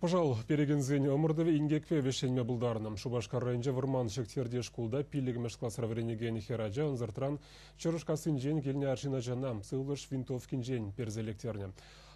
Пӑшал перекенсен ӑмӑртӑвӗ инкекпе вӗҫленме пултарнӑ. Шупашкар районӗнчи Вӑрманҫӑксерти шкулта пиллӗкмӗш класра вӗренекен хӗр ача ӑнсӑртран Чӑрӑшкассинчен килнӗ арҫын ачана сывлӑш винтовкинчен персе лектернӗ.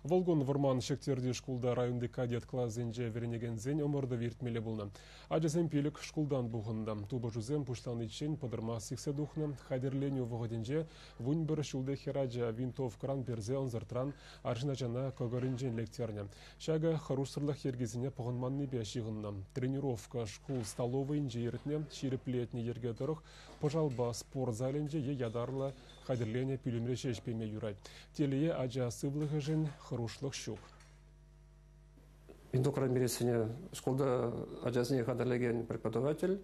Вӑл кун Вӑрманҫӑксерти шкулта районти кадет класӗнче вӗренекенсен ӑмӑртӑвӗ иртмелле пулнӑ. Ачасем пилӗк шкултан пухӑннӑ. Тупӑшусем пуҫланиччен пӑтӑрмах сиксе тухнӑ. Хатӗрленӳ вӑхӑтӗнче вунпӗр ҫулти хӗр ача винтовкӑран персе ӑнсӑртран Арҫын ачана кӑкӑрӗнчен лектернӗ. Ҫакӑ хӑрушсӑрлӑх йӗркисене пӑхӑнманнипе ҫыхӑннӑ. Тренировка шкул столовӑйӗнче иртнӗ, ҫирӗплетнӗ йӗрке тӑрӑх пӑшалпа спорт залӗнче е ятарлӑ хатӗрленӗ пӳлӗмре ҫеҫ пеме юрать. Телее, ача сывлӑхӗшӗн хӑрушлӑх ҫук. Эндокринбириссене шкулта ачасене хатӗрлекен преподаватель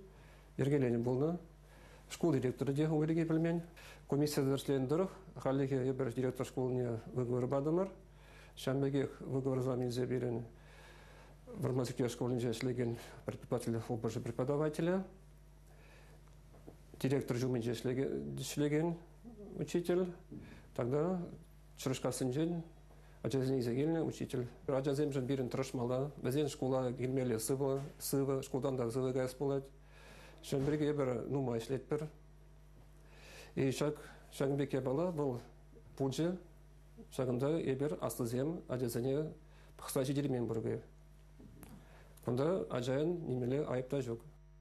йӗркеленӗ пулнӑ. Шкул директорӗ те ху пирки пӗлмен. Комиссия тӗрӗсленӗ тӑрӑх хальлӗхе эпир директор шкулне выговор патӑмӑр. Ҫавӑн пекех выговор илсе пирӗн Вӑрманчук шкулӗнче ӗҫлекен предприниматель хупӑшӗ преподавателӗ, директор ҫумӗнче ӗҫлекен учитель, тогда Чӑрӑшкассинчен ачасене илсе килнӗ учитель. Ачасемшӗн пирӗн тӑрӑшмалла. Вӗсен шкула килмелле сывӑ, сывӑ, шкултан та сывӑ каяс пулать. Ҫавӑн пирки эпир нумай ӗҫлетпӗр. И ҫак, ҫакӑн пек япала вӑл пулчӗ. Ҫакӑнта эпир аслисем ачасене пӑхса ҫитермен пурпе. Кунта ачан нимелле айӑп та ҫук.